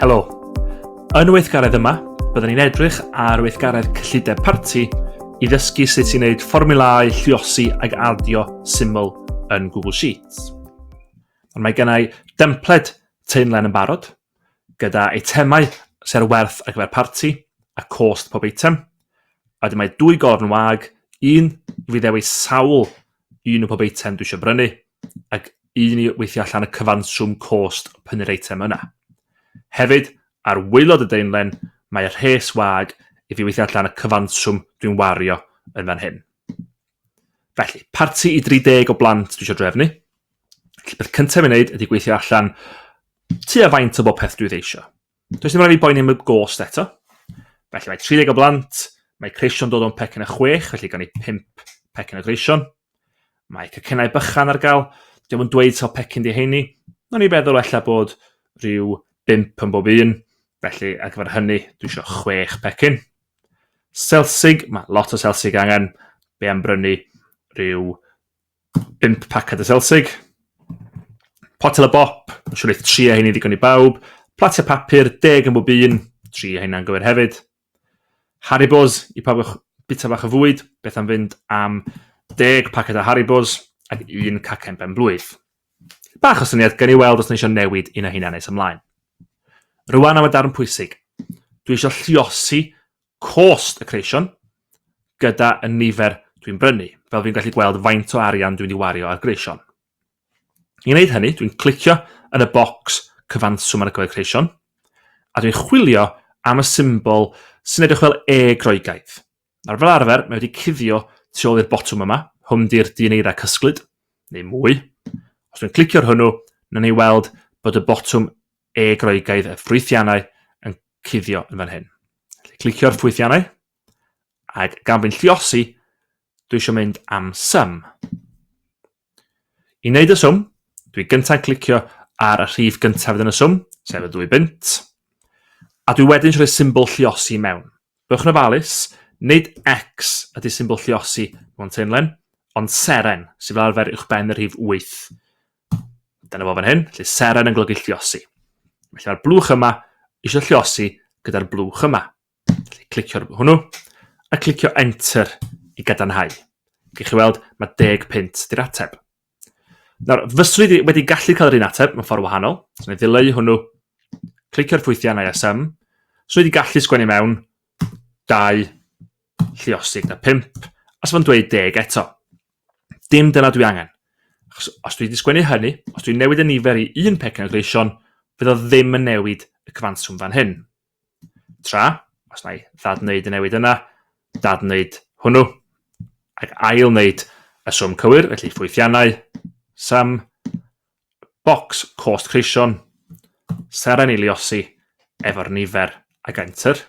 Helo. Yn y weithgaredd yma, byddwn ni'n edrych ar weithgaredd cyllideb parti i ddysgu sut i wneud fformulau lliosi ag adio syml yn Google Sheets. Ond mae gennau dempled teimlen yn barod, gyda eitemau sy' ar werth ar gyfer parti, a cost pob eitem. A wedyn mae dwy gorn wag, un i fi ddewis sawl un o pob eitem dwi eisiau brynu, ac un i weithio allan y cyfanswm cost prynu'r eitem yna. Hefyd, ar waelod y daenlen, mae rhes wag i fi weithio allan y cyfanswm dwi'n wario yn fan hyn. Felly, parti i 30 o blant dwi eisiau drefnu. Felly, beth cyntaf i wneud ydy gweithio allan tua faint o bob peth dwi ddeisio. Does dim rhaid fi boeni am y gost eto. Felly mae 30 o blant, mae creision dod o'n pecyn a chwech, felly gan i 5 pecyn o greision. Mae cycennau bychan ar gael, diolch yn dweud sawl pecyn di heini. Nw'n ni feddwl efallai bod rhyw 5 yn bob un, felly ar gyfer hynny dwi eisiau 6 pecyn. Selsig, mae lot o selsig angen, be am brynu rhyw 5 paced o selsig, potel o bop, yn siŵr eith tri a hyn i ddigon i bawb, platiau papur, deg yn bob un, tri a hyn gywir hefyd. Haribos i pawb o'ch bita bach o fwyd, beth am fynd am deg paced o Haribos ac un cacen ben blwydd. Bach o syniad gan i weld os na eisiau newid un a hyn nes ymlaen. Rwan am y darn pwysig. Dwi eisiau lliosi cost y creision gyda y nifer dwi'n brynu, fel fi'n gallu gweld faint o arian dwi'n ei wario ar greision. I wneud hynny, dwi'n clicio yn y bocs cyfanswm ar y cyfer creision, a dwi'n chwilio am y symbol sy'n edrych fel E groegaidd. Nawr fel arfer, mae wedi cuddio tu ôl i'r botwm yma, hwn di'r dyn eira cysglyd, neu mwy. Os dwi'n clicio ar hwnnw, na ni weld bod y botwm e Groegaidd y ffwythiannau yn cuddio yn fan hyn. Felly, clicio'r ffwythiannau, ac gan bod yn lliosi, dwi eisiau mynd am sum. I wneud y swm, dwi gyntaf yn clicio ar y rhif gyntaf yn y swm, sef y dwy bynt, a dwi wedyn eisiau rhoi symbol lliosi mewn. Bwch yn ofalus, nid X ydy symbol lliosi mewn teimlen, ond seren, sydd fel arfer uwch ben y rhif 8. Dyna fo fan hyn, lle seren yn golygu lliosi. Felly mae'r blwch yma eisiau lliosi gyda'r blwch yma. Felly clicio hwnnw a clicio enter i gadarnhau. Gwych chi weld, mae 10 pint di'r ateb. Nawr, fyswn i wedi gallu cael yr un ateb mewn ffordd wahanol. So, na i ddileu hwnnw, clicio'r ffwythiannau a sym. So, wedi gallu sgwennu mewn 2 lliosig na 5, a sef yn dweud 10 eto. Dim dyna dwi angen. Achos os dwi wedi sgwennu hynny, os dwi'n newid y nifer i un pecyn o gleision, fydd o ddim yn newid y cyfanswm fan hyn. Tra, os na i ddad wneud y newid yna, dad wneud hwnnw, ac ail wneud y swm cywir, felly ffwythiannau, sum, box, cost creision, seren i liosi efo'r nifer ag enter,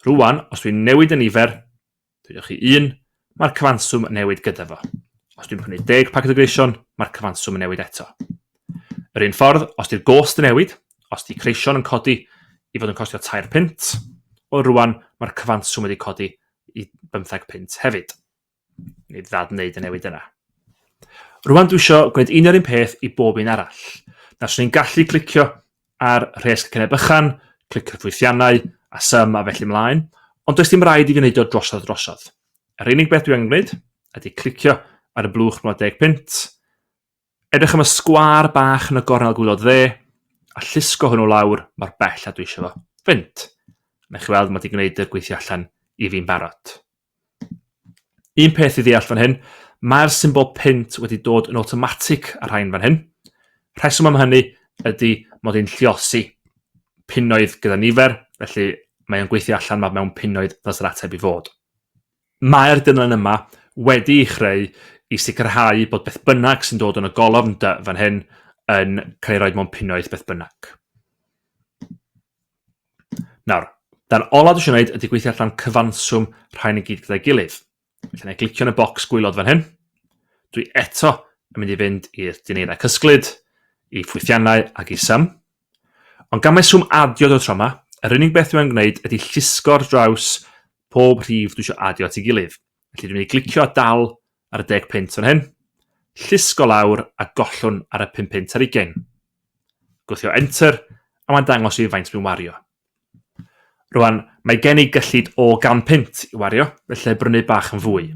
Rwan, os dwi'n newid y nifer, dwi'n chi un, mae'r cyfanswm yn newid gyda fo. Os dwi'n prynu 10 paced o greision, mae'r cyfanswm yn newid eto. Yr un ffordd, os di'r gost yn newid, os di creision yn codi i fod yn costio 3 pint, o rwan mae'r cyfanswm wedi codi i 15 pint hefyd. Neu ddad wneud y newid yna. Rwan dwi eisiau gwneud un o'r un peth i bob un arall. Na, swn i'n gallu clicio ar rhes cyneb bychan, clicio'r ffwythiannau, a sym a felly mlaen, ond does dim rhaid i fi wneud o drosodd drosodd. Yr unig beth dwi angen gwneud ydy clicio ar y blwch 10 pint, Edrych am y sgwâr bach yn y gornel gwylod dde, a llusgo hwnnw lawr mor bell a dwi eisiau fo. Fynt! Nech chi weld, mae wedi gwneud y gweithio allan i fi'n barod. Un peth i ddeall fan hyn, mae'r symbol pint wedi dod yn automatic ar rhain fan hyn. Rheswm am hynny ydy mod i'n lliosi pinoedd gyda nifer, felly mae'n gweithio allan mae mewn pinoedd ddos yr ateb i fod. Mae'r dudalen yma wedi'i chreu i sicrhau bod beth bynnag sy'n dod yn y golofn dy fan hyn yn cael ei roi mewn punnoedd beth bynnag. Nawr, dan olaf dwi eisiau gwneud ydy gweithio allan cyfanswm rhain i gyd gyda'i gilydd. Felly, na glicio yn y bocs gwylod fan hyn. Dwi eto yn mynd i fynd i'r dineirau cysglyd, i ffwythiannau ac i sym. Ond gan mai swm adio yw'r tro yma, yr unig beth dwi am gwneud ydy llusgo ar draws pob rhif dwi eisiau adio at ei gilydd. Felly dwi'n mynd i glicio a dal ar y deg punt fan hyn, llusgo lawr a gollwn ar y pum punt ar ugain. Gwthio Enter a mae'n dangos i faint dwi'n wario. Rwan, mae gen i gyllid o gan punt i wario, felly brynu bach yn fwy.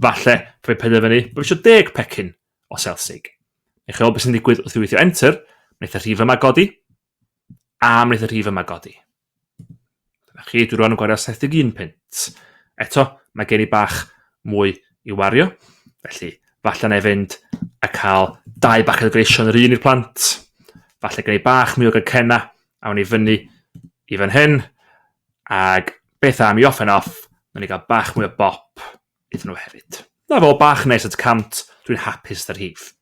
Falle, rhoi penderfynu bod eisiau deg pecyn o Selsig. Neu chewch beth sy'n digwydd wrth i weithio enter, wnaeth y rhif yma godi, a wnaeth y rhif yma godi. Dyna chi, dwi rwan yn gwario 71 pint. Eto, mae gen i bach mwy i wario, felly falle na i fynd a cael dau baced o greision yr un i'r plant, falle gen i bach mwy o gycena, awn i fyny i fan hyn, ac beth am i off and off, na ni gael bach mwy o bop iddyn nhw hefyd. Na fo, bach nes at 100, dwi'n hapus 'da rhif.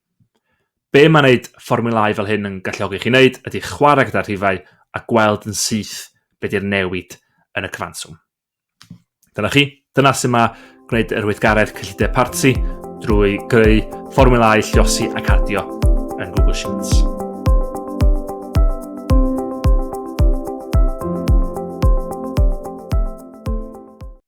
Be mae wneud fformulâu fel hyn yn galluogi chi wneud ydy chwarae gyda'r rhifau a gweld yn syth be di'r newid yn y cyfanswm. Dyna chi, dyna sy'n mae gwneud yr weithgaredd cyllideb parti drwy greu fformulâu lliosi ac adio yn Google Sheets.